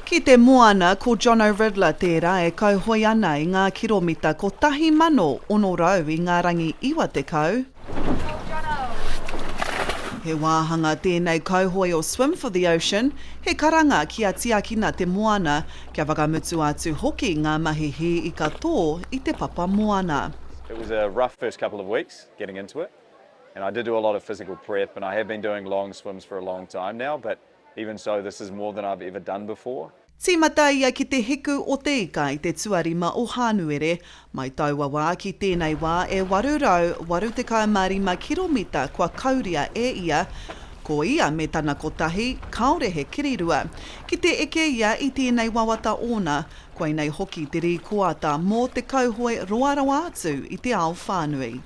Ki te moana, ko Jono Ridler tērā e kauhoe ana i ngā kiromita 1,600 i ngā rangi 90. He wāhanga tēnei kauhoe o Swim for the Ocean, he karanga kia tiakina te moana, kia whakamutu atu hoki ngā mahi hī ika tō i te papa moana. It was a rough first couple of weeks getting into it. and I did do a lot of physical prep and I have been doing long swims for a long time now but even so this is more than I've ever done before. Tīmata ia ki te hiku o Te Ika i te tuarima o Hānuere, mai taua wā ki tēnei wā e 885 kiromita kua kauria e ia, ko ia me tana kotahi, kāore he kirirua, ki te eke ia i tēnei wawata ōna, koinei hoki te rīkoata mō te kauhoe roa rawa atu i te ao whānui.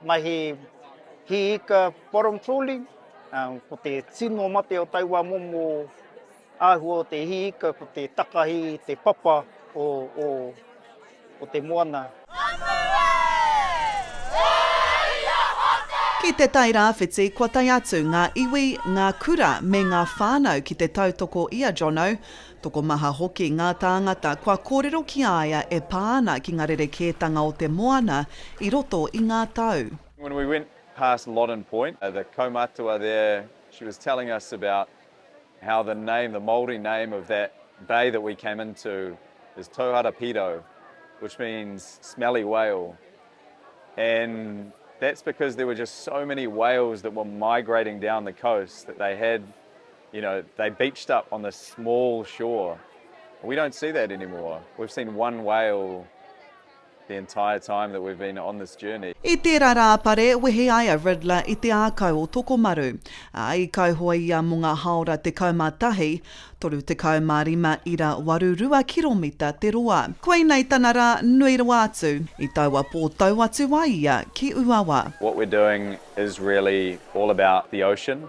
Mahi hī ika bottom trawling, ko te tino mate o taua momo āhua o te hī ika ko te takahi i te papa o te moana. Ki te Tai Rāwhiti, kua tae atu ngā iwi, ngā kura me ngā whānau ki te tautoko i a Jono, Tokomaha hoki ngā tāngata kua kōrero ki a ia e pā ana ki ngā rerekētanga o te moana i roto i ngā tau. When we went past Loddon Point, the kaumatua there, she was telling us about how the name, the Māori name of that bay that we came into is Tauhara Piro, which means smelly whale. And that's because there were just so many whales that were migrating down the coast that they had You know, they beached up on this small shore. We don't see that anymore. We've seen one whale the entire time that we've been on this journey. I tērā rā pare, wehe ai a Riddler i te ākau o Tokomaru, ā, i kauhoe ia mō ngā hāora 11, 35 ira waru rua kiromita te roa. Koinei tana rā nui rawa atu, i taua pō tau atu ai ia ki Ūawa. What we're doing is really all about the ocean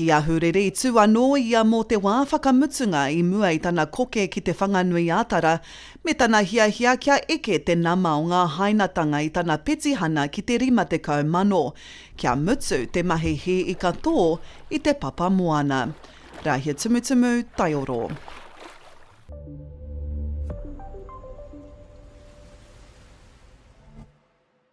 Ki Ahuriri, tū anō ia mō te wā whakamutunga i mua i tana koke ki Te Whanganui-ā-Tara, me tana hiahia kia eke te nama o ngā hainatanga i tana petihana ki te 50 mano, kia mutu te mahi hī ika tō i te papa moana. Rāhia Tumutumu, Taioro.